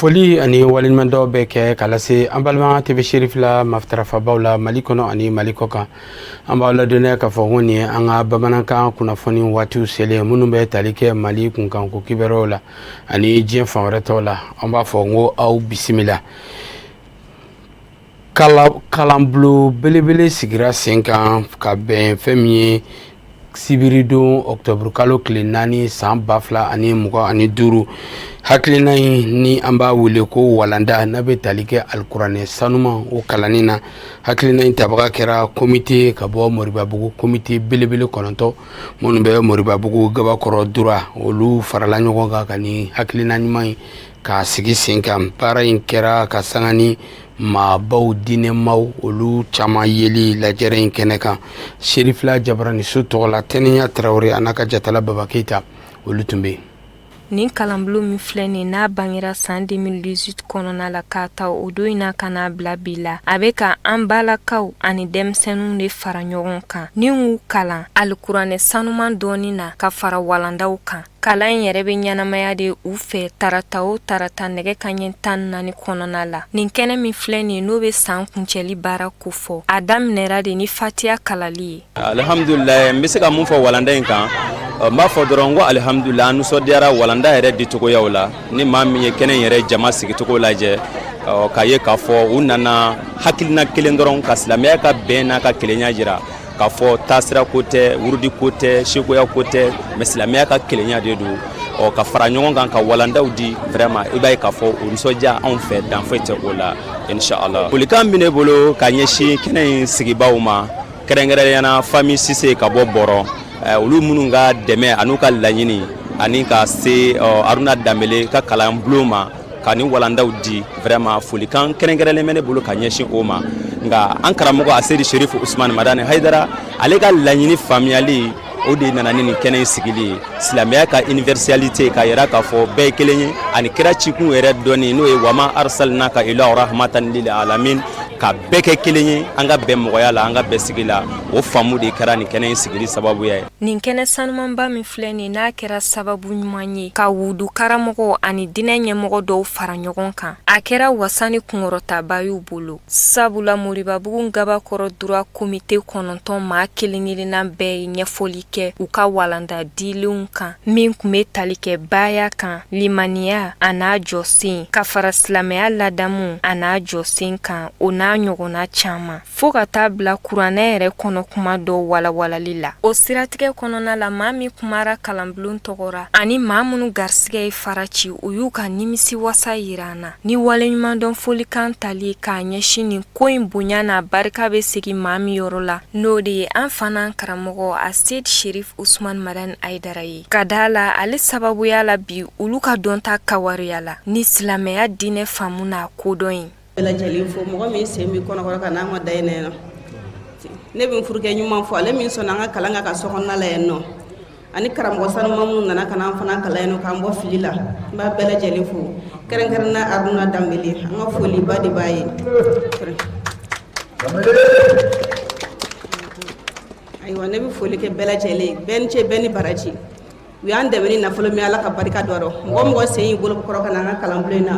foli ani waleɲumandɔn bɛ kɛ ka lase an balima TV sherifula matarafabaaw la mali kɔnɔ ani mali kɔkan an b'aw ladɔnniya ka fɔ ko nin ye an ka bamanankan kunnafoni waati selen minnu bɛ tali kɛ mali kunkanko kibaruw la ani diɲɛ fan wɛrɛ tɔw la an b'a fɔ ko aw bisimila kalanbulon belebele sigira sen kan ka bɛn fɛn min ye sibiridon ɔkutɔburukalo tile naani san ba fila ani mugan ani duuru hakilina in ni an b'a wele ko walanda n'a bɛ tali kɛ alikuranɛ sanuma o kalanni na hakilina in tabaga kɛra komite ka bɔ moribabugu komite belebele kɔnɔntɔn minnu bɛ moribabugu gabakɔrɔ droit olu farala ɲɔgɔn kan ka nin hakilina ɲuman ye k'a sigi sen kan baara in kɛra ka sanga ni maabaw diinɛmaw olu caman yeli lajɛrɛ in kɛnɛ kan sherifula jabaraniso tɔgɔ la tɛnɛnya tarawele a n'a ka jatala baba keyita olu tun bɛ yen nin kalanbulon min filɛ nin n'a bangera san 2018 kɔnɔna la k'a ta o don in na ka n'a bila bi la a bɛ ka an balikuw ani denmisɛnninw de fara ɲɔgɔn kan ni k'u kalan alikuranɛ sanuman dɔnni na ka fara walandaw kan kalan in yɛrɛ bɛ ɲɛnamaya de u fɛ tarata o tarata nɛgɛ kanɲɛ tan naani kɔnɔna la nin kɛnɛ min filɛ nin ye n'o bɛ san kuncɛli baara kofɔ a daminɛra de ni fatiya kalali ye alihamdulila n bɛ se ka mun fɔ walanda in kan n b'a fɔ dɔrɔn ko alihamdulila an nisɔndiyara walanda yɛrɛ dicogoyaw la ni maa min ye kɛnɛ in yɛrɛ jama sigicogo lajɛ k'a ye k'a fɔ u nana hakilina kelen dɔrɔn ka silamɛya ka bɛn n'a ka kelenya jira k'a fɔ taasira ko tɛ wurudi ko tɛ sekoya ko tɛ mais silamɛya ka kelenya de don u ka fara ɲɔgɔn kan ka walandaw di vraiment i b'a ye k'a fɔ o nisɔndiya anw fɛ dan foyi tɛ o la inshallah folikan bɛ ne bolo ka ɲɛsin kɛnɛ in sigibaaw ma kɛrɛnkɛrɛnyana fami sise ka bɔ bɔrɔ eh, olu minnu ka dɛmɛ an'u ka laɲini ani ka se aruna danbele ka kalanbulon ma ka nin walandaw di vraiment folikan kɛrɛnkɛrɛnlen bɛ ne bolo ka ɲɛsin o ma nka an karamɔgɔ aseyidi sherifu usman madani haidara ale ka laɲini faamuyali o de nana ni nin kɛnɛ in sigili ye silamɛya ka universalité k'a yira k'a fɔ bɛɛ ye kelen ye ani kira cikun yɛrɛ dɔnni n'o ye wama arsalnaka illa rahmatan lil alamin ka bɛɛ kɛ kelen ye an ka bɛn mɔgɔya la an ka bɛn sigi la o faamu de kɛra nin kɛnɛ in sigili sababuya ye Nin kɛnɛ sanumanba min filɛ nin n'a kɛra sababu ɲuman ye ka wudu karamɔgɔw ani diinɛ ɲɛmɔgɔ dɔw fara ɲɔgɔn kan a kɛra wasa ni kunkɔrɔtaba y'u bolo sabula moribabugu gabakɔrɔ droit komite kɔnɔntɔn maa kelen-kelenna bɛɛ ye ɲɛfɔli kɛ u ka walanda dilenw kan min tun bɛ tali kɛ baaya kan limaniya a n'a jɔsen ka fara silamɛya ladamu a n'a jɔsen kan o n'a ɲɔgɔnna caman fo ka t'a bila kuranɛ yɛrɛ kɔnɔ kuma dɔ walawalali la o siratigɛ kɔnɔna la maa min kumara kalanbulon tɔgɔ ra ani maa minnu garisigɛ ye fara ci u y'u ka nimisi wasa yira an na ni waleɲumandɔn folikan tali k'a ɲɛsin nin ko in bonya n'a barika bɛ segin maa min yɔrɔ la n'o de ye an fana karamɔgɔ a seid sherif usman madan aidara ye k'a d'a la ale sababuya la bi olu ka dɔnta kawariya la ni silamɛya diinɛ faamu n'a kodɔn ye lajɛlen fo mɔgɔ min sen bɛ kɔnɔkɔrɔ ka n'an ka da na yan ne bɛ furukɛ ɲuman fo ale min sɔnna an ka kalan ka kɛ so kɔnɔna la yan nɔ ani karamɔgɔ sanuman minnu nana ka n'an fana kalan yan nɔ k'an bɔ fili la n b'a bɛɛ lajɛlen fo kɛrɛnkɛrɛn na aruna danbele an ka foliba de b'a ye ayiwa ne bɛ foli kɛ bɛɛ lajɛlen bɛɛ ni ce bɛɛ ni baraji u y'an dɛmɛ ni nafolo min ala ka barika don a rɔ mɔgɔ o mɔgɔ sen y'i bolo kɔrɔ ka na an ka kalanbulon na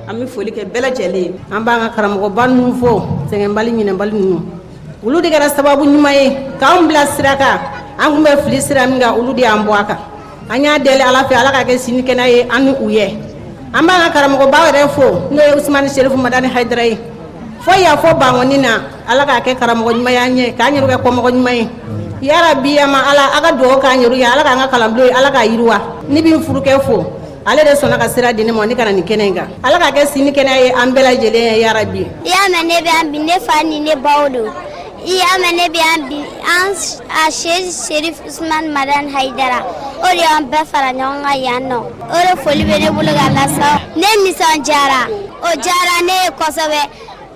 an bɛ foli kɛ bɛɛ lajɛlen ye an b'an ka karamɔgɔba ninnu fo sɛgɛnbali ɲinɛbali ninnu olu de kɛra sababu ɲuman ye k'an bila sira kan an tun bɛ fili sira min kan olu de y'an bɔ a kan an y'a deli ala fɛ ala k'a kɛ sini kɛnɛ ye an ni u ye an b'an ka karamɔgɔba yɛrɛ fo n'o ye usumani serifu madani hayidara ye fɔ y'a fɔ bankɔni na ala k'a kɛ karamɔgɔ ɲuman ye an ɲɛ k'an yɛrɛw kɛ kɔmɔgɔ ɲuman ye yarabi yama ala a ka dugawu k'an yɛrɛw ye ala k'an ka kalanbulon ye ala k'a yiriwa ne bɛ n furukɛ fo ale de sɔnna ka sira di ne ma ne ka na nin kɛnɛ in kan ala k'a kɛ sini kɛnɛ ye an bɛɛ lajɛlen ye yarabi i y'a mɛn ne bɛ yan bi ne fa ni ne baw don i y'a mɛn ne bɛ yan bi an a seid sherif usman madan hayidara o de y'an bɛɛ fara ɲɔgɔn kan yan nɔ o de foli bɛ ne bolo ka lasa ne nisɔndiyara o diyara ne ye kosɛbɛ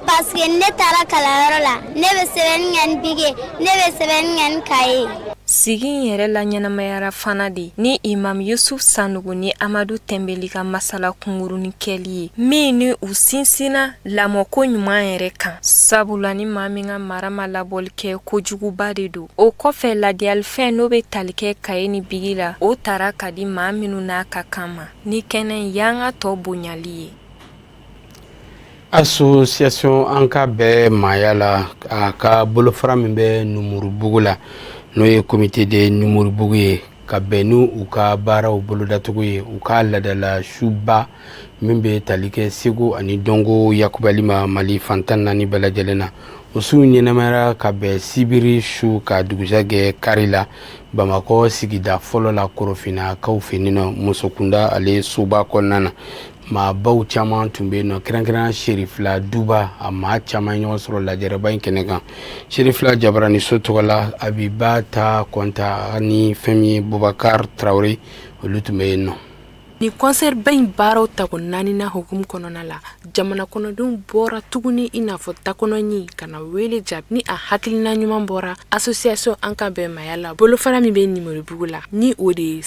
paseke ne taara kalanyɔrɔ la ne bɛ sɛbɛnni kɛ ni bigi ye ne bɛ sɛbɛnni kɛ ni kaye sigi in yɛrɛ laɲɛnamayara fana de ni imam yusuf sanogo ni amadu tɛnbeli ka masala kungurunin kɛli ye min ni u sinsinna lamɔko ɲuman yɛrɛ kan sabula ni maa min ka mara ma labɔli kɛ kojuguba de don o kɔfɛ ladiyalifɛn n'o bɛ tali kɛ kaye ni bigi la o tara ka di maa minnu n'a ka kan ma ni kɛnɛ y'an ka tɔɔ bonyali ye asosiyasɔn an ka bɛn maaya la a ka bolofara min bɛ numuribugu la n'o ye komite de numuribugu ye ka bɛn n' u ka baaraw bolodacogo ye u ka ladala suba min bɛ tali kɛ seko ani dɔnko yakubali ma mali fan tan naani bɛɛ lajɛlen na o su ɲɛnamayara ka bɛn sibiri su ka dugusɛjɛ kari la bamakɔ sigida fɔlɔ la korofinakaw fɛ muso kunda ale soba kɔnɔna na Maa baw caman tun bɛ na kɛrɛnkɛrɛn Serifila duba maa caman ye ɲɔgɔn sɔrɔ lajɛrɛba in kɛnɛ kan Serifila jara ni so tɔgɔ la Abibata Kɔnta ni fɛn ye bubakari tarawele olu tun bɛ yen nɔ ni kɔnsɛriba in baaraw tako naaninan hukumu kɔnɔna la jamana kɔnɔdenw bɔra tuguni i n'a fɔ da kɔnɔ ɲin ka na wele jaabi ni a hakilina ɲuman bɔra association an ka bɛn maaya la bolo fana min bɛ ninmoribugu la ni o de ye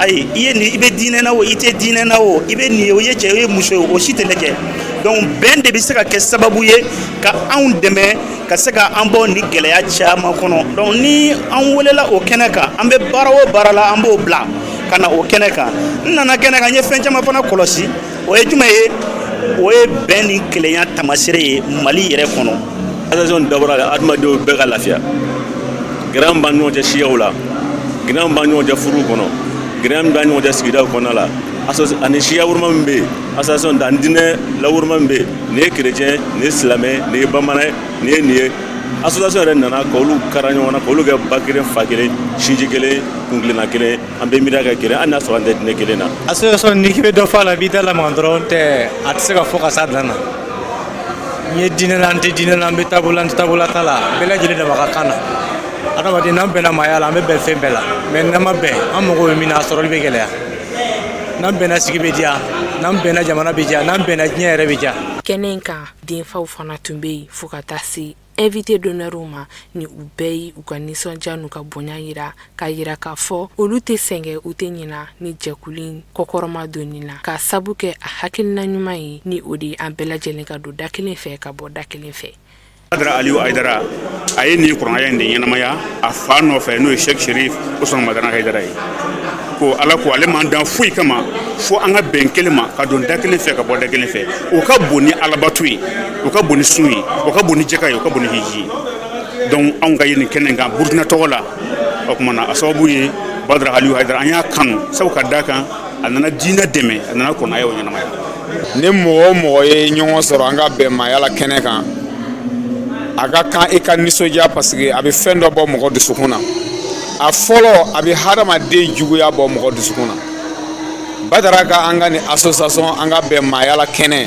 ayi i ye nin i bɛ diinɛ na o i tɛ diinɛ na o i bɛ nin ye o ye cɛ o ye muso ye o si tɛ lajɛ donc bɛn de bɛ se ka kɛ sababu ye ka anw dɛmɛ ka se ka an bɔ nin gɛlɛya caman kɔnɔ donc ni an welela o kɛnɛ kan an bɛ baara o baara la an b'o bila ka na o kɛnɛ kan n nana kɛnɛ kan n ye fɛn caman fana kɔlɔsi o ye jumɛn ye o ye bɛn ni kelenya tamasere ye mali yɛrɛ kɔnɔ association dabɔra la adamadenw bɛɛ ka lafiya gɛlɛya b'an ɲɔgɔn cɛ siyaw la gɛlɛya b'an ɲɔgɔn cɛ furu kɔnɔ gɛlɛya b'an ɲɔgɔn cɛ sigidaw kɔnɔna la ani siyawoloma min bɛ yen association ani diinɛ lawoloma min bɛ yen nin ye kerecɛn nin ye silamɛ nin ye bamanan nin ye nin ye association yɛrɛ nana ka olu kara ɲɔgɔn na ka olu kɛ ba kelen fa kelen sinji kelen kuntilenna kelen an bɛ miiri ka kelenya n'a sɔrɔ an tɛ diinɛ kelen na association in bɛ dɔ fɔ la b'i da la dɔrɔn tɛ a tɛ se ka fɔ ka sa dan na n ye diinɛ la an tɛ diinɛ la an bɛ taabolo an tɛ taabolo ta la bɛɛ lajɛlen dama ka kan na adamaden n'an bɛnna maaya la an bɛ bɛn fɛn bɛɛ la mais n'an ma bɛn an mago bɛ min na a sɔrɔli bɛ gɛlɛya n'an bɛnna sigi bɛ diya n'an bɛnna jamana bɛ diya n'an bɛnna diɲɛ yɛrɛ bɛ diya kɛnɛ in kan denfaw fana tun bɛ yen fo ka taa se Invité d'honneurw ma ni u bɛɛ ye u ka nisɔndiya n'u ka bonya jira k'a jira k'a fɔ olu tɛ sɛgɛn u tɛ ɲina nin jɛkulu in kɔkɔrɔmadonni na k'a sabu kɛ a hakilina ɲuman ye ni o de an bɛɛ lajɛlen ka don da kelen fɛ ka bɔ da kelen fɛ. Badara Aliyu Ayidara a ye nin kuranɛ aya in de ɲɛnamaya a fa nɔfɛ n'o ye Sɛki Serif Usumani Madani Ayidara ye ko Ala ko ale m'an dan foyi kama fo an ka bɛn kelen ma ka don da kelen fɛ ka bɔ da kelen fɛ o ka bon ni alabato ye o ka bon ni sun ye o ka bon ni jaka ye o ka bon ni hiji ye donc anw ka ye nin kɛnɛ kan burkina tɔgɔ la o tuma na a sababu ye badara haliyu hayidara an y'a kanu sabu ka da kan a nana diinɛ dɛmɛ a nana kuranɛ ayaw ɲɛnamaya ni mɔgɔ o mɔgɔ ye ɲɔgɔn sɔrɔ an ka bɛn maaya la kɛnɛ kan a ka kan i ka nisɔndiya parce que a bɛ fɛn dɔ bɔ mɔgɔ dusukun na a fɔlɔ a bɛ hadamaden juguya bɔ mɔgɔ dusukun na badara ka an ka nin association an ka bɛn maaya la kɛnɛ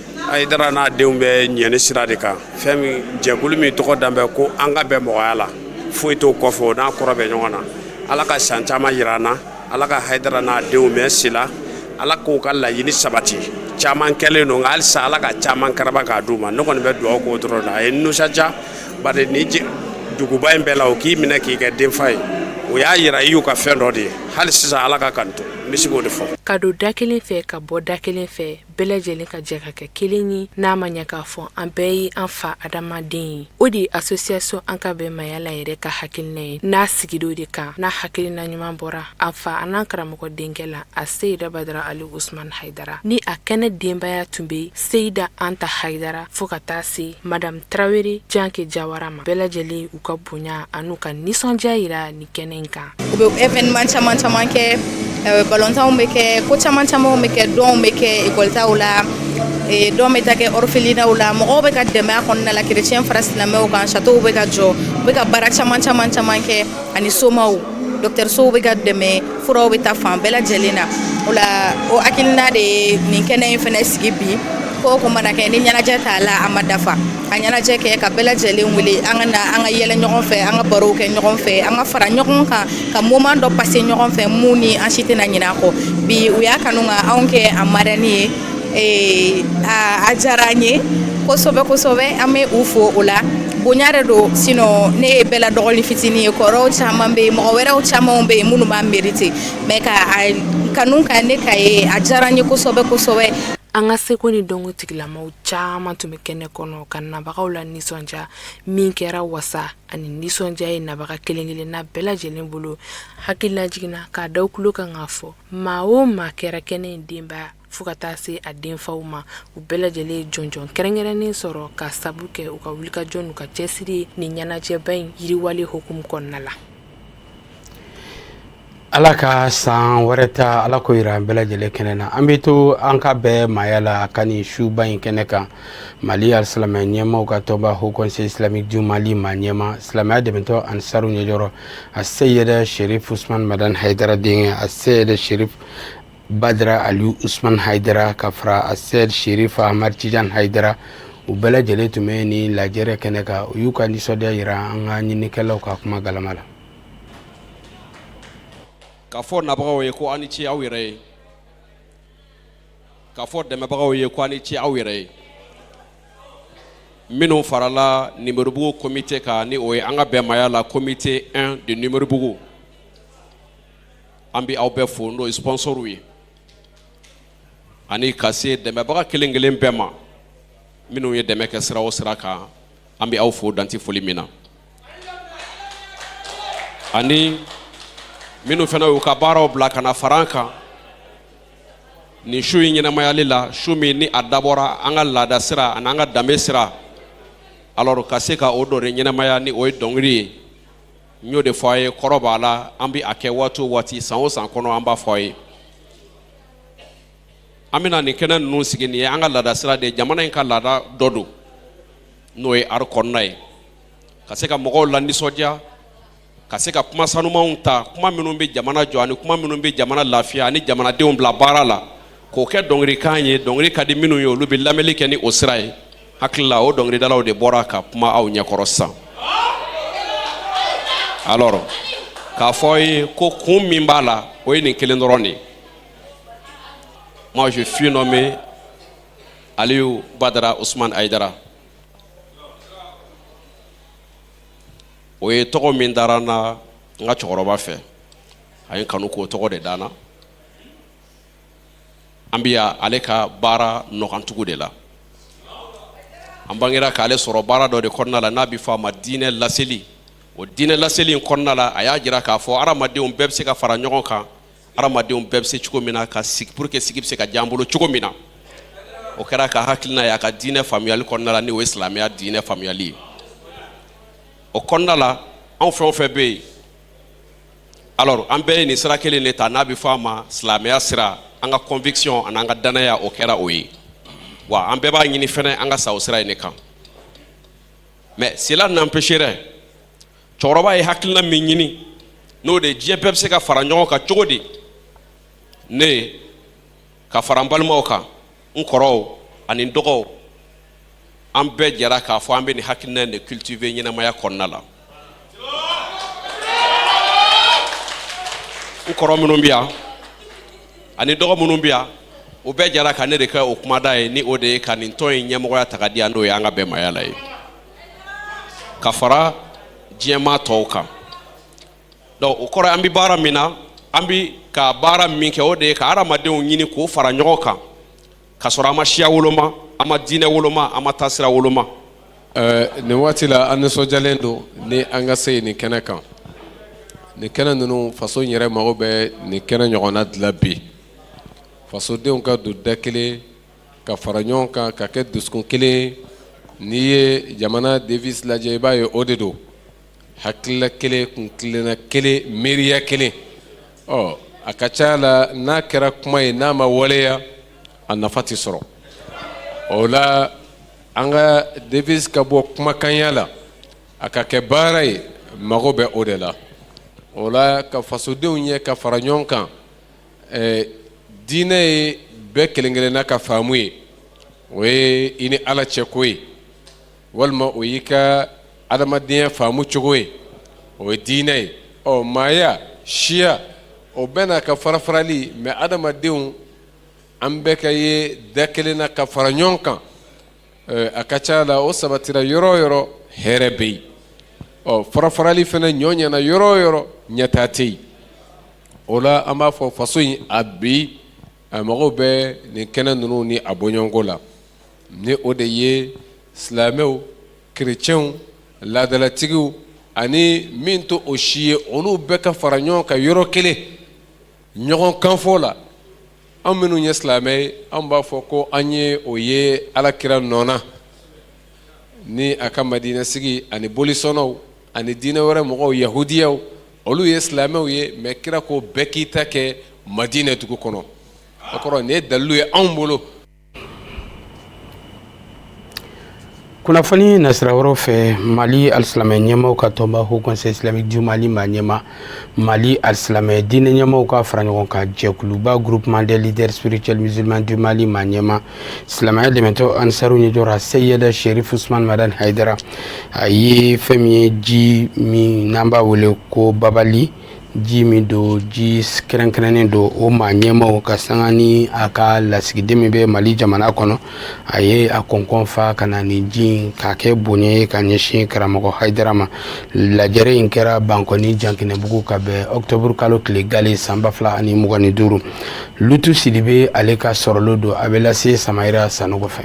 hayidara n'a denw bɛ ɲɛni sira de kan fɛn min jɛkulu min tɔgɔ danbɛ ko an ka bɛn mɔgɔya la foyi t'o kɔfɛ o n'a kɔrɔ bɛ ɲɔgɔn na ala ka san caman yira an na ala ka hayidara n'a denw mɛn si la ala k'u ka laɲini sabati caman kɛlen don nka halisa ala ka caman karaba k'a d'u ma ne kɔni bɛ dugawu k'o dɔrɔn na a ye nisɔndiya bari ni duguba in bɛɛ la o k'i minɛ k'i kɛ denfa ye o y'a yira i y'u ka fɛn dɔ de ye hali sisan ala ka kan to n bɛ se k'o de fɔ ka don da kelen fɛ ka bɔ da kelen fɛ bɛɛ lajɛlen ka jɛ ka kɛ kelen ye n'a ma ɲɛ k'a fɔ an bɛɛ ye an fa adamaden ye o de ye association an ka bɛn maaya la yɛrɛ ka hakilina ye n'a sigira o de kan n'a hakilina ɲuman bɔra a fa an'an karamɔgɔ denkɛ la a seyida badara ali usman haidara ni a kɛnɛ denbaya tun bɛ seyida anta haidara fo ka taa se madame tarawele janke jawara ma bɛɛ lajɛlen u ka bonya an'u ka nisɔndiya yira ni kɛnɛ in kan u bɛ evenement caman caman kɛ eh, balontanw bɛ kɛ ko caman camanw bɛ kɛ dɔnw bɛ kɛ ekɔlitaw la eh, dɔn bɛ taa kɛ orphelinaw la mɔgɔw bɛ ka dɛmɛ a kɔnɔna la kerecɛn fara silamɛw kan satow bɛ ka jɔ u bɛ ka baara caman caman caman kɛ ani somaw dɔkitɛrisow bɛ ka dɛmɛ furaw bɛ taa fan bɛɛ lajɛlen na o la o hakilina de ye nin kɛnɛ in fana sigi bi ko o ko mana kɛ ni ɲɛnajɛ t'a la a ma dafa a ɲɛnajɛ kɛ ka bɛɛ lajɛlen wele an ka na an ka yɛlɛ ɲɔgɔn fɛ an ka barow kɛ ɲɔgɔn fɛ an ka fara ɲɔgɔn kan ka moment dɔ passer ɲɔgɔn fɛ mun ni an si tɛna ɲinɛ a kɔ bi u y'a kanu ka anw kɛ a marraine ye ee a diyara an ye kosɛbɛ kosɛbɛ an bɛ u fo o la bonya de don sinon ne ye bɛɛ la dɔgɔnin fitinin ye kɔrɔw caman bɛ yen mɔgɔ wɛrɛw camanw bɛ yen minnu b'a merite mais ka a kanu ka ne k'a ye a diyara an ye kosɛbɛ kosɛbɛ an ka seko ni dɔnko tigilamɔgɔw caman tun bɛ kɛnɛ kɔnɔ ka nabagaw lanisɔndiya min kɛra wasa ani nisɔndiya ye nabaga kelen-kelenna bɛɛ lajɛlen bolo hakililajigin na k'a d'aw tulo kan k'a fɔ maa o maa kɛra kɛnɛ in denba fo ka taa se a denfaw ma u bɛɛ lajɛlen ye jɔnjɔn kɛrɛnkɛrɛnnen sɔrɔ k'a sabu kɛ u ka wulikajɔ n'u ka cɛsiri nin ɲɛnajɛba in yiriwali hukumu kɔnɔna la ala ka san wɛrɛ ta ala k'o jira an bɛɛ lajɛlen kɛnɛ na an bɛ to an ka bɛn maaya la ka nin suba in kɛnɛ kan mali silamɛya ɲɛmaaw ka tɔnba haut conseil islamique du mali ma ɲɛmaa silamɛya dɛmɛtɔn ansari ɲɛjɔrɔ a seyidi serifu usman madani haidara denkɛ a seyidi badara ali usman haidara ka fara a seyidi serifu amadi tijan haidara u bɛɛ lajɛlen tun bɛ nin lajɛrɛ kɛnɛ kan u y'u ka nisɔndiya jira an ka ɲinikɛlaw ka kuma galama la k'a fɔ nabagaw ye ko a ni ce aw yɛrɛ ye k'a fɔ dɛmɛbagaw ye ko a ni ce aw yɛrɛ ye minnu farala numoribugu komite kan ni o ye an ka bɛn maaya la komite 1 de numoribugu an bɛ aw bɛɛ fo n'o ye sponsorw ye ani ka se dɛmɛbaga kelen kelen bɛɛ ma minnu ye dɛmɛ kɛ sira o sira kan an bɛ aw fo dan tɛ foli min na ani minnu fana y'u ka baaraw bila ka na fara an kan nin su in ɲɛnamayali la su min ni a dabɔra an ka laada sira ani an ka danbe sira alors ka se ka o dɔ ɲɛnamaya ni o ye dɔnkili ye n y'o de fɔ a ye kɔrɔ b'a la an bɛ a kɛ waati o waati san o san kɔnɔ an b'a fɔ a ye an bɛna nin kɛnɛ ninnu sigi nin ye an ka laada sira de ye jamana in ka laada dɔ don n'o ye art kɔnɔna ye ka se ka mɔgɔw la nisɔndiya ka se ka kuma sanumanw ta kuma minnu bɛ jamana jɔ ani kuma minnu bɛ jamana lafiya ani jamanadenw bila baara la k'o kɛ dɔnkilikan ye dɔnkili ka di minnu ye olu bɛ lamɛnli kɛ ni o sira ye hakili la o dɔnkilidalaw de bɔra ka kuma aw ɲɛkɔrɔ sisan alors k'a fɔ aw ye ko kun min b'a la o ye nin kelen dɔrɔn de ye moi je suis nommé Aliou Badara Ousmane Haïdara o ye tɔgɔ min dara n na n ka cɛkɔrɔba fɛ a ye n kanu k'o tɔgɔ de da n na an bɛ ale ka baara nɔkantugu de la an bangera k'ale sɔrɔ baara dɔ de kɔnɔna la n'a bɛ fɔ a ma diinɛ laseli o diinɛ laseli in kɔnɔna la a y'a jira k'a fɔ hadamadenw bɛɛ bɛ se ka fara ɲɔgɔn kan hadamadenw bɛɛ bɛ se cogo min na ka sigi pour que sigi bɛ se ka diya an bolo cogo min na o kɛra a ka hakilina y'a ka diinɛ faamuyali kɔnɔna la n'o ye silamɛya diinɛ faamuyali ye o kɔnɔna la anw fɛn o fɛn bɛ yen alors an bɛɛ ye nin sira kelen de ta n'a bɛ fɔ a ma silamɛya sira an ka conviction an'an ka danaya o kɛra o ye wa an bɛɛ b'a ɲini fɛnɛ an ka sa o sira in de kan mais cela n'empêche dɛ cɛkɔrɔba ye hakilina min ɲini n'o de ye diɲɛ bɛɛ bɛ se ka fara ɲɔgɔn kan cogo di ne ka fara n balimaw kan n kɔrɔw ani n dɔgɔw an bɛɛ jɛra k'a fɔ an bɛ nin hakilina in de cultiver ɲɛnamaya kɔnɔna la n kɔrɔ minnu bɛ yan ani dɔgɔ minnu bɛ yan o bɛɛ jɛra ka ne de kɛ o kumada ye ni o de ye ka nin tɔn in ɲɛmɔgɔya ta ka di yan n'o ye an ka bɛnbaya la ye ka fara diɲɛmaa tɔw kan donc o kɔrɔ an bɛ baara min na an bɛ ka baara min kɛ o de ye ka hadamadenw ɲini k'u fara ɲɔgɔn kan ka sɔrɔ an ma siya woloma an ma diinɛ woloma an ma taasira woloma eh, nin waati la an nisɔndiyalen don ni an ka se ye nin kɛnɛ kan nin kɛnɛ ninnu faso in yɛrɛ mago bɛ nin kɛnɛ ɲɔgɔnna de la bi fasodenw ka don da kelen ka fara ɲɔgɔn kan ka kɛ dusukun kelen n'i ye jamana devise lajɛ i b'a ye o de don hakilila kelen kuntilenna kelen miiriya kelen ɔ a ka ca la n'a kɛra kuma ye n'a ma waleya a nafa tɛ sɔrɔ o la an ka devise ka bɔ kumakanya la a ka kɛ baara ye mago bɛ o de la o la ka fasodenw ye ka fara ɲɔgɔn kan eh, diinɛ ye bɛɛ kelen kelenna ka faamu ye o ye i ni ala cɛko ye walima o y'i ka adamadenya faamu cogo ye o ye diinɛ ye ɔ maaya siya o bɛɛ n'a ka farafarali mɛ adamadenw an bɛ ka ye da kelen na ka fara ɲɔgɔn kan a ka ca la o sabatira yɔrɔ o yɔrɔ hɛrɛ bɛ yen ɔ farafarali fana n'o nana yɔrɔ o yɔrɔ ɲɛtaa tɛ yen o la an b'a fɔ faso in a bi a mago bɛ nin kɛnɛ ninnu ni a bɔɲɔgɔnko la ni o de ye silamɛw kerecɛnw laadalatigiw ani min tɛ o si ye olu bɛɛ ka fara ɲɔgɔn kan yɔrɔ kelen ɲɔgɔn kanfɔ la an minnu ye silamɛ ye an b'a fɔ ko an ye o ye ala kira nɔ na ni a ka madinɛsigi ani bolisɔnnaw ani diinɛ wɛrɛ mɔgɔw yahudiyaw olu ye silamɛw ye mɛ kira ko bɛɛ k'i ta kɛ madinɛ dugu kɔnɔ o kɔrɔ nin ye dalilu ye anw bolo kunnafoni nasira wɛrɛw fɛ mali alisilamɛ ɲɛmaaw ka tɔnba haut conseil islamique du mali maa ɲɛma mali alisilamɛya diinɛ ɲɛmaaw ka fara ɲɔgɔn kan jɛkuluba groupement des leaders spirituels musulmans du mali maa ɲɛma silamɛya dɛmɛtɔn anisaru ɲɛjira seyedi serif usumani madani hayidara a ye fɛn min ye ji min n'an b'a wele ko babali ji min don ji kɛrɛnkɛrɛnnen don o maa ɲɛmaw ka sanga ni a ka lasigiden min bɛ mali jamana kɔnɔ a ye a kɔnkɔn fa ka na ni ji k'a kɛ bonya ye ka ɲɛsin karamɔgɔ hayidara ma lajɛrɛ in kɛra bankɔni jankinɛbugu ka bɛn ɔkutɔburukalo tile gale san ba fila ani mugan ni duuru lutu sidibe ale ka sɔrɔlen don a bɛ lase samayila sanɔgɔ fɛ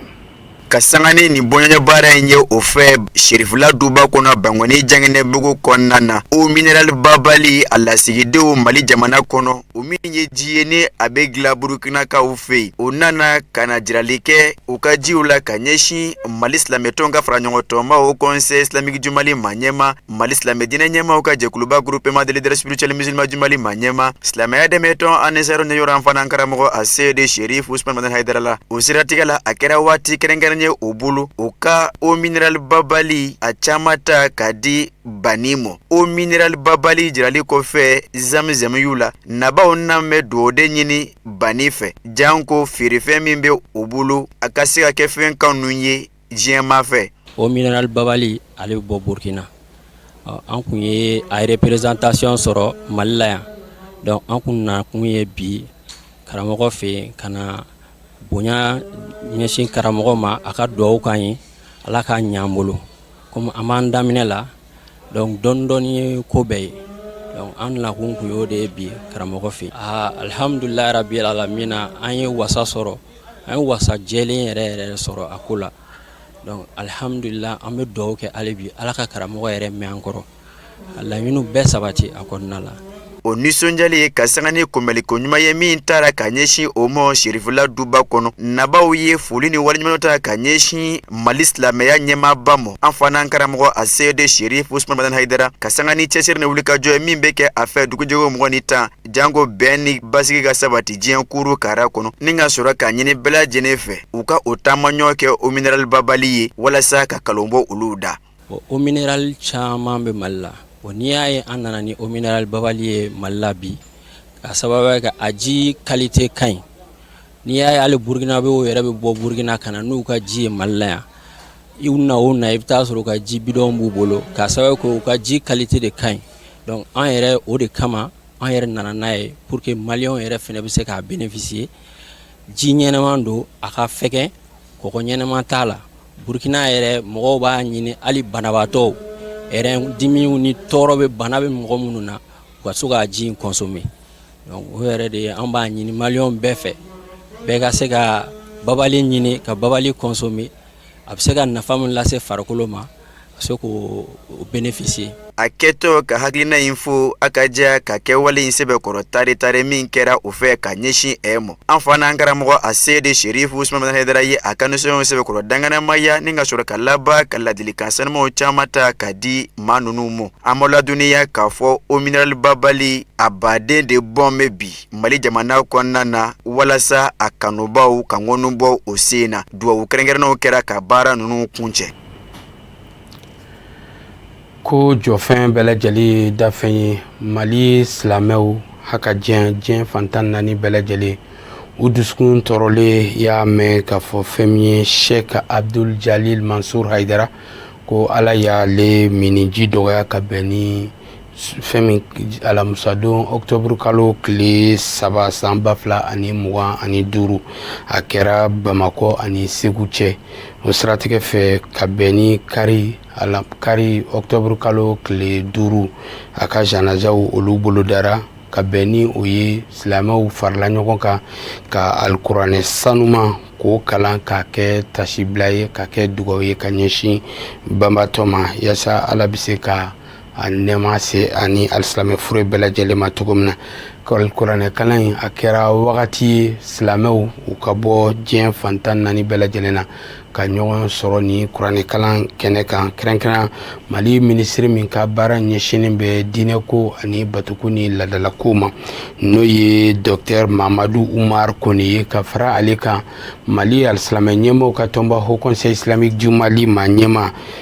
ka sanga ni nin bonya baara in ye o fɛ serifula duba kɔnɔ bankɔni jankinɛbugu kɔnɔna na eau minerale babali a lasigidenw mali jamana kɔnɔ o min ye ji ye ni a bɛ dilan burukinakaw fɛ yen o nana ka na jirali kɛ u ka jiw la ka ɲɛsin mali silamɛmɛtɔn ka fara ɲɔgɔn tɔnba haut conseil islamique du mali maa ɲɛma Mali silamɛ diinɛ ɲɛmaaw ka jɛkuluba groupement des leaders spirituels musulmans du Mali maa ɲɛma, silamɛya dɛmɛtɔn Anisaru ɲɛyira an fa n'an karamɔgɔ a seyedi Serif Usumani Madani Hayidara la, o siratigɛ la, a kɛra waati kɛrɛnkɛrɛnnen ye o bolo, o ka eau minerale babali a caman ta k'a di Bani mɔ, eau minerale babali jirali kɔfɛ zamzam y'u la, nabaaw na bɛ dugawu de ɲini Bani fɛ, janko feerefɛn min bɛ u bolo, a ka se ka kɛ fɛn kanu ye diɲɛmaa fɛ o minɛrali babali ale bɛ bɔ burukina an tun ye a représentation sɔrɔ mali la yan dɔnku an tun na kun ye bi karamɔgɔ fɛ yen ka na bonya ɲɛsin karamɔgɔ ma a ka dugawu k'an ye ala k'a ɲa an bolo kɔmi an b'a daminɛ la dɔn dɔndɔ ye ko bɛɛ ye an nakun tun y'o de ye bi karamɔgɔ fɛ aa alihamdulilahi rabili alamina an ye wasa sɔrɔ an ye wasa jɛlen yɛrɛ yɛrɛ sɔrɔ a ko la alihamdulila an bɛ dugawu kɛ ale bi ala ka karamɔgɔ yɛrɛ mɛɛn an kɔrɔ a laɲini bɛɛ sabati a kɔnɔna la u nisɔndiyalen ye ka sanga ni kunbɛliko ɲuman ye min taara ka ɲɛsin u ma sirifila duba kɔnɔ nabaw ye foli ni waleɲuman ta ka ɲɛsin mali silamɛya ɲɛmaaba ma an fa n'an karamɔgɔ aseyidi serifu usumani madani hayidara ka sanga ni cɛsɛ Janko bɛn ni basigi ka sabati diɲɛ kurun kara kɔnɔ ni ka sɔrɔ k'a ɲini bɛɛ lajɛlen fɛ u ka o taamaɲɔgɔn kɛ o minɛrali babali ye walasa ka nkalon bɔ olu da o o minɛrali caman bɛ mali la o n'i y'a ye an nana ni o minɛrali babali ye mali la bi k'a sababu kɛ a ji kalite ka ɲi n'i y'a ye hali burukinabɛw yɛrɛ bɛ bɔ burukina ka na n'u ka ji ye mali la yan I na o na i bɛ taa a sɔrɔ u ka ji bidɔn b'u bolo k'a sababu kɛ u ka ji kalite de ka ɲi dɔnku an yɛrɛ o de kama an yɛrɛ nana n'a ye pour que mali yɛrɛ fana bɛ se k'a benefisiye ji ɲɛnama don a ka fɛgɛ k ɲɛnama t'a la burukina yɛrɛ mɔgɔw b'a ɲini hali banabaatɔ dimi ni tɔɔrɔ bɛ bana bɛ mɔgɔ minnu na u ka se ka ji in kɔnsome o yɛrɛ de ye an b'a ɲini mali bɛɛ fɛ bɛɛ ka se ka babali ɲini ka babali kɔnsome a bɛ se ka nafa min lase farikolo ma ka se k' o benefisiye a kɛtɔ ka hakilina in fɔ a ka jɛ ka kɛwale in sɛbɛkɔrɔ tari-tari min kɛra u fɛ ka ɲɛsin e ma an fa n'an karamɔgɔ aseyidi serifu usumani madani hayidara ye a ka nisɔndiya sɛbɛkɔrɔ dankɛnɛmaya ni ka sɔrɔ ka laban ka ladilikan sanumanw caman ta ka di maa ninnu ma an b'a ladɔnniya k'a fɔ o minɛrali babali a baden de bɔn bɛ bi Mali jamana kɔnɔna na walasa a kanubaaw ka ŋɔni bɔ u sen na dugawu kɛrɛnkɛrɛnnenw kɛra ka baara ninnu kuncɛ ko jɔfɛn bɛɛ lajɛlen ye dafɛn ye mali silamɛw ha ka diɲɛ diɲɛ fan tan ni naani bɛɛ lajɛlen u dusukun tɔɔrɔlen y'a mɛn k'a fɔ fɛn min ye sɛki abudul jalili mansuri hayidara ko ala y'ale minniji dɔgɔya ka bɛn ni fɛn min alamisadon octobre kalo tile saba san ba fila ani mugan ani duuru a kɛra bamakɔ ani segu cɛ o siratigɛ fɛ ka bɛn ni kari octobre kalo tile duuru a ka janajaw olu bolodara ka bɛn ni o ye silamɛw farala ɲɔgɔn kan ka alikuranɛ sanuman k'o kalan k'a kɛ tasibila ye k'a kɛ dugawu ye ka ɲɛsin banbaatɔ ma yasa ala bɛ se ka a nɛɛma se ani alisilamɛ fure bɛɛ lajɛlen ma cogo min na kuranɛkalan in a kɛra wagati ye silamɛw u ka bɔ diɲɛ fan tan ni naani bɛɛ lajɛlen na ka ɲɔgɔn sɔrɔ nin kuranɛkalan kɛnɛ kan kɛrɛnkɛrɛn mali minisiri min ka baara ɲɛsinnen bɛ diinɛko ani batoko ni laadalakow ma n'o ye dɔktɛri mamadu umari kɔnɛ ye ka fara ale kan mali alisilamɛ ɲɛmɔgɔw ka tɔnba haut conseil islamique du mali ma ɲɛmaa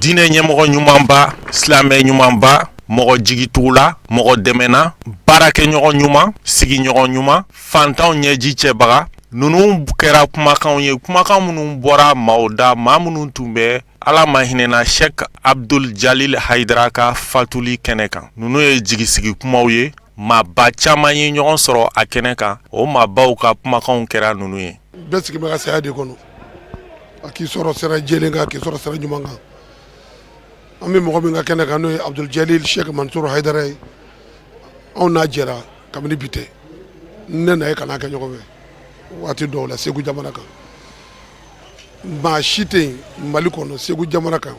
diinɛ ɲɛmɔgɔ ɲumanba silamɛ ɲumanba mɔgɔ jigitugula mɔgɔ dɛmɛna baarakɛɲɔgɔn ɲuman sigiɲɔgɔn ɲuman fantanw ɲɛji cɛbaga ninnu kɛra kumakanw ye kumakan minnu bɔra maaw da maa minnu tun bɛ ala ma hinɛ a na sɛki abuduli jalil hayidara ka fatuli kɛnɛ kan ninnu ye jigi sigi kumaw ye maaba caman ye ɲɔgɔn sɔrɔ a kɛnɛ kan o maabaw ka kumakanw kɛra ninnu ye a k'i sɔrɔ sira jɛlen kan a k'i sɔrɔ sira ɲuman kan an bɛ mɔgɔ min ka kɛnɛ kan n'o ye Abuduli Jalil Sɛki Mansur Hayidara ye anw n'a jɛra kabini bi tɛ ne n'a ye kalan kɛ ɲɔgɔn fɛ waati dɔw la Segu jamana kan maa si tɛ yen Mali kɔnɔ Segu jamana kan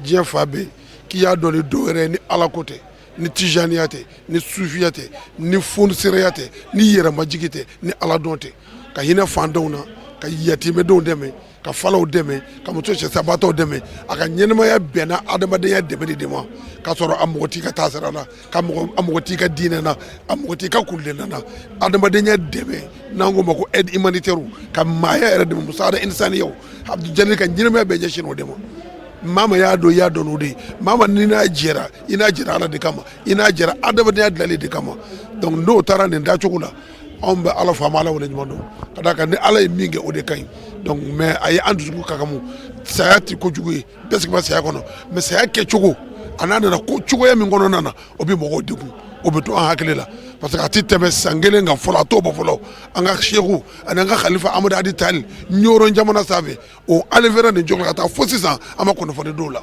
diɲɛ fan bɛɛ k'i y'a dɔn ni dɔwɛrɛ ye ni Ala ko tɛ ni tijaniya tɛ ni sufiya tɛ ni fsiraya tɛ ni yɛrɛmajigin tɛ ni ala dɔn tɛ ka hinɛ faantanw na ka yatimɛdenw dɛmɛ ka faw dɛmɛ ka muso cɛ sabatɔ dɛmɛ a ka ɲɛnamaya bɛnna adamadenya dɛmɛ de ma ka sɔrɔ a mɔgɔ ka taa sira la ka mɔgɔ ka diinɛ na a mɔgɔ ka kulu na adamadenya dɛmɛ n'an k'o ma ko humanitaire ka maaya yɛrɛ de musa isan o ka ɲɛnamaya bɛɛ ɲɛsin o de ma mama y'a dɔn i y'a dɔn o de ye mama ni n'a jɛra i n'a jɛra ala de kama i n'a jɛra adamadenya dalilu de kama donc n'o taara nin taacogo la anw bɛ ala faama ala waleɲumandɔn ka d'a kan ni ala ye min kɛ o de ka ɲi donc mais a ye an dusukun kakamu saya tɛ kojugu ye bɛɛ sigi bɛ saya kɔnɔ mais saya kɛcogo ani a nana ko cogoya min kɔnɔna na o bɛ mɔgɔw degun o bɛ to an hakili la parce que a tɛ tɛmɛ san kelen kan fɔlɔ a t'o bɔ fɔlɔ an ka seku ani an ka kalifa amadu hadi tali ɲɔrɔn jamana sanfɛ o ali fana nin ɲɔgɔnna ka taa fo sisan an ma kunnafoni dɔw la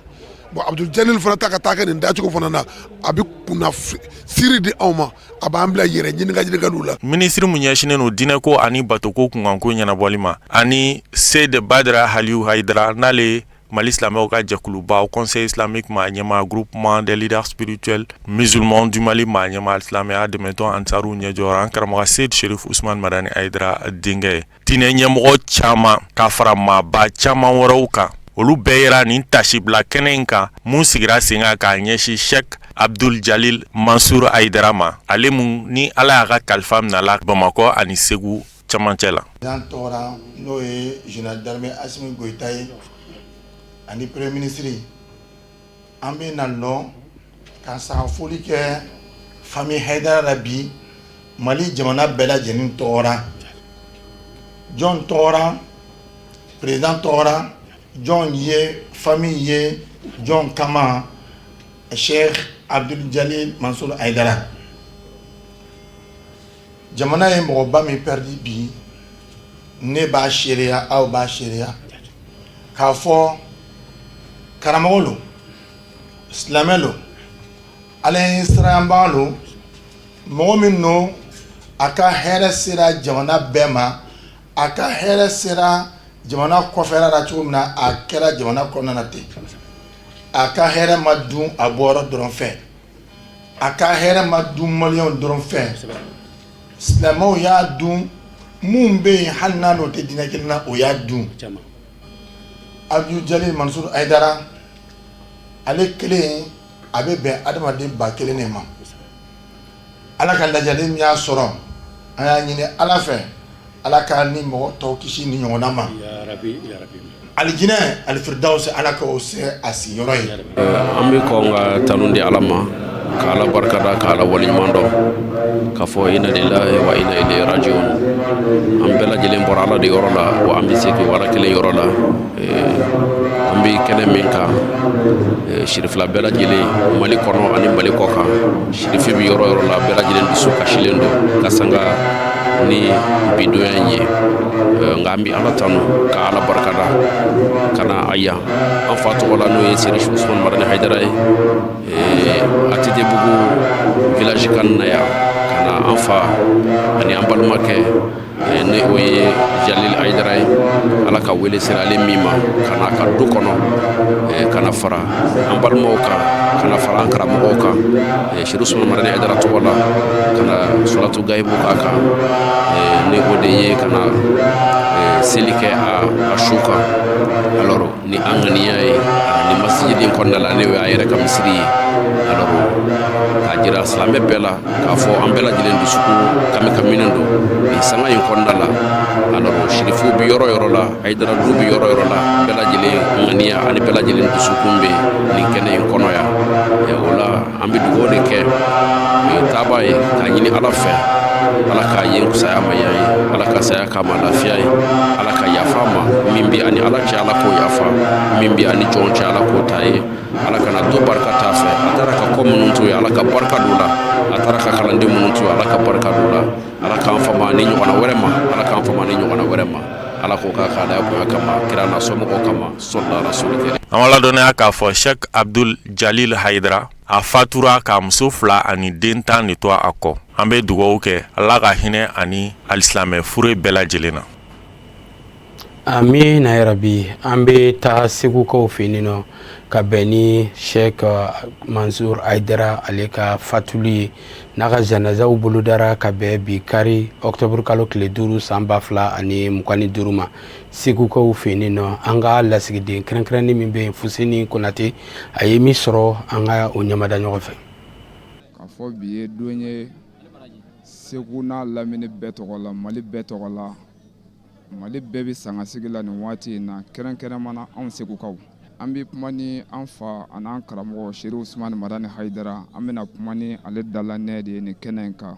bon abudu jalili fana ta ka taa kɛ nin dacogo fana na a bɛ kunnasiri di anw ma a b'an bila yɛrɛ ɲininka ɲininka dɔ la minisiri mun ɲɛsinnen don diinɛ ko ani batoko kunkanko ɲɛnabɔli ma ani seyidi badara aliyu hayidara n'ale mali silamɛw ka jɛkuluba haut conseil islamique maa ɲɛmaa groupement des leaders spirituels musulmans du mali maa ɲɛmaa silamɛya dɛmɛtɔn ansariw ɲɛjɔ an karamɔgɔ seyidi serifu usman madani hayidara denkɛ ye diinɛ ɲɛmɔgɔ caman ka fara maaba caman wɛrɛw kan olu bɛɛ yera nin tasibila kɛnɛ in kan mun sigira sen kan k'a ɲɛsin sɛki abudu jalili mansour hayidara ma ale mun ni ala y'a ka kalifa minɛ a la bamakɔ ani segu camancɛ la An bɛ na lɔ ka sanga foli kɛ fami hayidara la bi mali jamana bɛɛ lajɛlen tɔgɔ ra jɔn tɔgɔ ra peresidan tɔgɔ ra jɔn ye fami ye jɔn kama sɛki abudu jalili mansur hayidara jamana ye mɔgɔba min pɛridi bi ne b'a seereya aw b'a seereya k'a fɔ karamɔgɔ lo silamɛ lo ala ɲɛsiranbaga lo mɔgɔ min lo a ka hɛrɛ sera jamana bɛɛ ma a ka hɛrɛ sera jamana kɔfɛ la cogo min na a kɛra jamana kɔnɔna ten a ka hɛrɛ ma dun a bɔyɔrɔ dɔrɔn fɛ a ka hɛrɛ ma dun maliyɛnw dɔrɔn fɛ silamɛw y'a dun minnu bɛ yen hali n'a ni o tɛ diinɛ kelen na o y'a dun abudu jalili mansur hayidara ale kelen a bɛ bɛn adamaden ba kelen le ma ala ka lajali min y'a sɔrɔ an y'a ɲini ala fɛ Ala ka nin mɔgɔ tɔw kisi nin ɲɔgɔnna ma alijinɛ alifiridawusi ala k'o kɛ a sigiyɔrɔ ye an bɛ kɔn ka tanu di ala ma ka ala barika da ka ala wale ɲuman dɔn ka fɔ ina lilahi wa ina ilayihi rajiwun an bɛɛ lajɛlen bɔra ala de yɔrɔ la wa an bɛ segin ala kelen yɔrɔ la an bɛ kɛnɛ min kan sirifila bɛɛ lajɛlen mali kɔnɔ ani mali kɔ kan sirifi bɛ yɔrɔ yɔrɔ la bɛɛ lajɛlen dusu kasilen don ka sanga ni bidonya in ye nka an bɛ ala tanu ka ala barikada ka na yan an fa tɔgɔ la n'o ye sirifu usman madani hayidara ye atetebugu village ka na yan ka na an fa ani an balimakɛ n'o ye jalil ayidara ye ala ka wele sera ale min ma ka na a ka du kɔnɔ ka na fara an balimaw kan ka na fara an karamɔgɔw kan serifu usumani madani ayidara tɔgɔ la ka na salatu gayibu k'a kan n'o de ye ka na seli kɛ a su kan alors ni an ŋaniya ye nin masijidi in kɔnɔna la n'o y'a yɛrɛ ka misiri ye alors k'a jira silamɛ bɛɛ la k'a fɔ an bɛɛ lajɛlen dusukun kami kaminen don nin sanga in kɔnɔna la alors sirifuw bɛ yɔrɔ yɔrɔ la ayidara du bɛ yɔrɔ yɔrɔ la bɛɛ lajɛlen ŋaniya ani bɛɛ lajɛlen dusukun bɛ nin kɛnɛ in kɔnɔ yan o la an bɛ dugaw de kɛ o ye taabaa ye k'a ɲini ala fɛ ala k'a ye saya ma ya ye ala ka saya k'a ma lafiya ye ala ka yafa a ma min bɛ a ni ala cɛ ala k'o yafa min bɛ a ni jɔn cɛ ala k'o ta a ye ala kana to barika t'a fɛ a taara ka kɔ minnu to yen ala ka barika don u la a taara ka kalanden minnu to yen ala ka barika don u la ala k'an fama nin ɲɔgɔnna wɛrɛ ma ala k'an fama nin ɲɔgɔnna wɛrɛ ma ala k'o ka k'a da bonya kama kira n'a somɔgɔw kama sɔli ala rasulu karim an b'a ladɔnniya k'a fɔ sɛk abdul jalil hayidara a fatura k'a muso fila ani den tan de to a kɔ an bɛ dugaw kɛ ala ka hinɛ a ni alisilamɛ fure bɛɛ lajɛlen na amiina yarabi an bɛ taa segukaw fɛ yen nɔ ka bɛn ni sɛk mansur ayidara ale ka fatuli ye n'a ka zanazaw bolodara ka bɛn bi kari ɔkutɔburukalo tile duuru san ba fila ani mugan ni duuru ma segukaw fɛ yen nɔ an ka lasigiden kɛrɛnkɛrɛnnen min bɛ yen fuseni konatɛ a ye min sɔrɔ an ka o ɲamada ɲɔgɔn fɛ k'a fɔ bi ye don ye segu n'a lamini bɛɛ tɔgɔ la mali bɛɛ tɔgɔ la mali bɛɛ bɛ sangasigi la nin waati in na kɛrɛnkɛrɛn mana anw segukaw an bɛ kuma ni an fa ani an karamɔgɔ serifu usumani madani hayidara an bɛna kuma ni ale dala ne de ye nin kɛnɛ in kan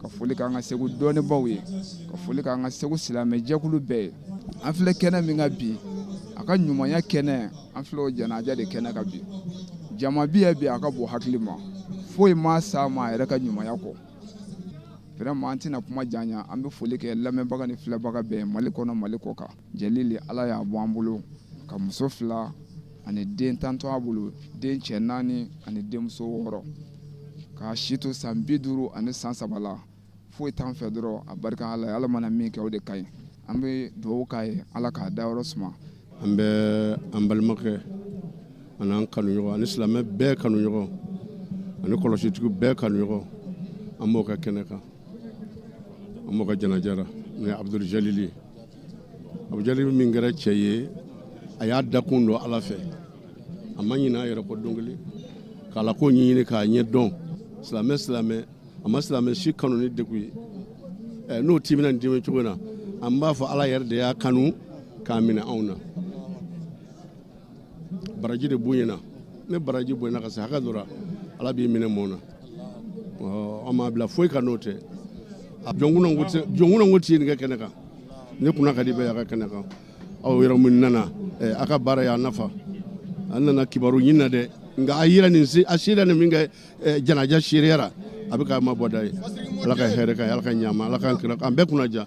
ka foli k'an ka segu dɔnnibaw ye ka foli k'an ka segu silamɛjɛkulu bɛɛ ye an filɛ kɛnɛ min kan bi a ka ɲumanya kɛnɛ an filɛ o janaja de kɛnɛ kan bi jama bɛ yan bi a ka bon hakili ma foyi m'a sama a yɛrɛ ka ɲumanya kɔ vraiment an tɛna kuma janya an bɛ foli kɛ lamɛnbaga ni filɛbaga bɛɛ mali kɔnɔ mali kɔkan Jalil de ala y'a bɔ an bolo ka muso fila ani den tan to a bolo den cɛ naani ani denmuso wɔɔrɔ k'a si to san bi duuru ani san saba la foyi t'an fɛ dɔrɔn abarika ala ye ala mana min kɛ o de ka ɲi an bɛ dugawu k'a ye ala k'a dayɔrɔ suma an bɛ an balimakɛ ani an kanuɲɔgɔn ani silamɛ bɛɛ kanuɲɔgɔn ani kɔlɔsitigiw bɛɛ kanuɲɔgɔn an b'o ka kɛnɛ kan an b'o ka janaja la n'o ye abudul jalili ye abudul jalili min kɛra cɛ ye a y'a dakun don ala fɛ a ma ɲin'a yɛrɛ kɔ don kelen ka ala ko ɲɛɲini k'a ɲɛ dɔn silamɛ silamɛ a ma silamɛ si kanu ni degun ye n'o timina nin dimi cogo na an b'a fɔ ala yɛrɛ de y'a kanu k'a minɛ anw na baraji de b'u ɲɛna ni baraji bonyana ka se hakɛ dɔ la ala b'i minɛ mɔɔ na an m'a bila foyi kan n'o tɛ jɔnkunan ko ti ye nin kɛ kɛnɛ kan ne kunna ka di bɛɛ y'a ka kɛnɛ kan aw yɔrɔ min nana a ka baara y'a nafa an nana kibaru ɲin na dɛ nka a yira nin a sera nin min kɛ janaja sereyara a bɛ k'a ma bɔda ye ala ka hɛrɛ ka ala ka ɲa ala ka kira an bɛɛ kunna diya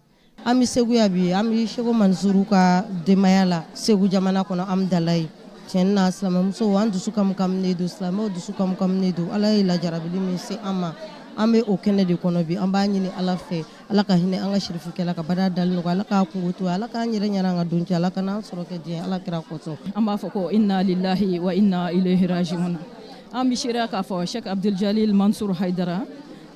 an bɛ segu yan bi an bɛ seku mansuru ka denbaya la segu jamana kɔnɔ an dala ye cɛn na silamɛmuso an dusu ɲagaminen don silamɛw dusu ɲagaminen don ala ye lajarabi min se an ma an bɛ o kɛnɛ de kɔnɔ bi an b'a ɲini ala fɛ ala ka hinɛ an ka sirifikɛ la ka baara dalen nɔgɔ ala k'a kungo to ala k'an yɛrɛ ɲɛna an ka don cɛ ala ka n'an sɔrɔ kɛ diɲɛ ala kira kɔsɔn an b'a fɔ ko inna lillahi wa inna ilayhi rajiuna an bɛ se k'a fɔ sɛki abudul jalili mansour haidara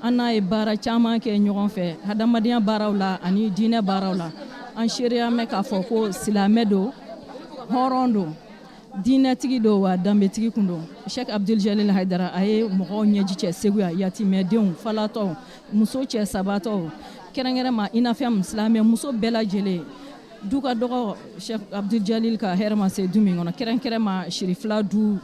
An n'a ye baara caman kɛ ɲɔgɔn fɛ hadamadenya baaraw la ani diinɛ baaraw la an seereya mɛn k'a fɔ ko silamɛ don hɔrɔn don diinɛtigi don wa danbetigi tun don sɛki abudul jalili hayidara a ye mɔgɔw ɲɛji cɛ segu yan yatimɛdenw falatɔ muso cɛ sabatɔ kɛrɛnkɛrɛn ma i n'a fɔ silamɛmuso bɛɛ lajɛlen du ka dɔgɔ sɛki abudul jalili ka hɛrɛ ma se du min kɔnɔ kɛrɛnkɛrɛn ma sirifila du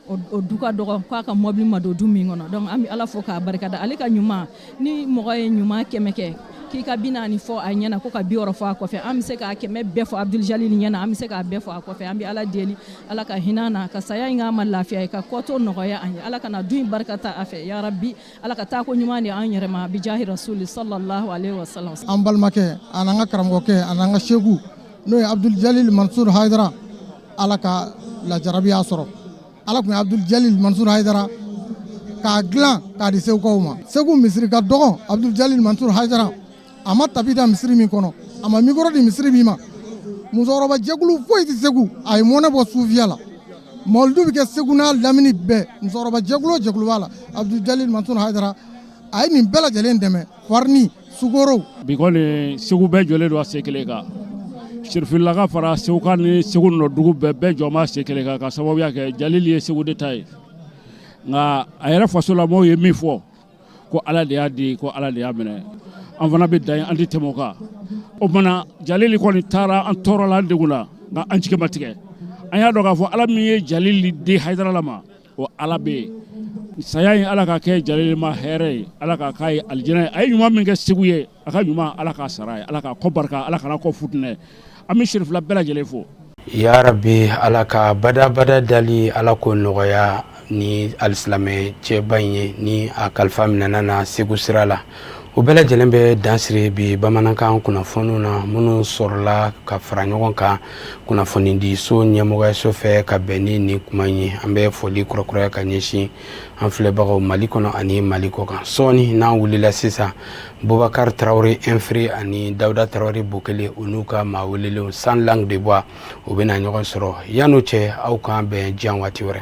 o du ka dɔgɔn k'a ka mɔbili ma don du min kɔnɔ donc an bɛ ala fo k'a barikada ale ka ɲuman ni mɔgɔ ye ɲuman kɛmɛ kɛ k'i ka bi naani fɔ a ɲɛna ko ka bi wɔɔrɔ fɔ a kɔfɛ an bɛ se k'a kɛmɛ bɛɛ fɔ abudul jalili ɲɛna an bɛ se k'a bɛɛ fɔ a kɔfɛ an bɛ ala deli ala ka hin'a na ka saya in k'a ma lafiya ye k'a kɔ tɔ nɔgɔya an ye ala kana du in barika ta a fɛ ya rabbi ala ka taa ko ɲuman di an yɛrɛ ma bijahi rasuli sallallahu alaihi wasallam an balimakɛ an'an ka karamɔgɔkɛ an'an ka sɛku n'o ye abudul jalili mansur haidara ala ka lajarabi y'a sɔrɔ ala tun ye abudul jalili mansur haidara k'a dilan k'a di segukaw ma segu misiri ka dɔgɔn abudul jalili mansur haidara a ma tapi da misiri min kɔnɔ a ma mikɔrɔ di misiri min ma musokɔrɔbajɛkulu foyi tɛ segu a ye mɔnɛ bɔ sufiya la mawulidu bɛ kɛ segu n'a lamini bɛɛ musokɔrɔbajɛkulu o jɛkulu b'a la abudul jalili mansur haidara a ye nin bɛɛ lajɛlen dɛmɛ farini sukaro bi kɔni Segu bɛɛ jɔlen don a sen kelen kan sirifilakaw fara segukaw ni segu nɔdugu bɛɛ bɛɛ jɔ b'a sen kelen kan k'a sababuya kɛ jalili ye segu de ta ye nka a yɛrɛ fasolamɔgɔw ye min fɔ ko ala de y'a di ko ala de y'a minɛ an fana bɛ dan an tɛ tɛmɛ o kan o tuma jalili kɔni taara an tɔɔrɔla an degunna nka an jigi ma tigɛ an y'a dɔn k'a fɔ ala min ye jalili di hayidarala ma Ko ala bɛ yen saya in ala ka kɛ jalilima hɛrɛ ye ala ka ka ye alijɛnɛ ye a ye ɲuman min kɛ segu ye a ka ɲuman ala ka sara ye ala ka kɔ barika ala kana kɔ fitinɛ an bɛ serifula bɛɛ lajɛlen fo yarabi ala ka badabada dalen ala k'o nɔgɔya ni alisilamɛ cɛba in ye ni a kalifa minɛna segu sira la o bɛɛ lajɛlen bɛ dansiri bi bamanankan kunnafoniw na minnu sɔrɔla ka fara ɲɔgɔn kan kunnafoni di so ɲɛmɔgɔyaso fɛ ka bɛn ni nin kuma ye an bɛ foli kɔrɔkuraya ka ɲɛsin an filɛbagaw mali kɔnɔ ani mali kɔkan sɔɔni n'an wulila sisan bubakari tarawele efiri ani dawuda tarawele bo kelen u n'u ka maa welelenw sans langue de bois u bɛna na ɲɔgɔn sɔrɔ yan n'o cɛ aw k'an bɛn yan waati wɛrɛ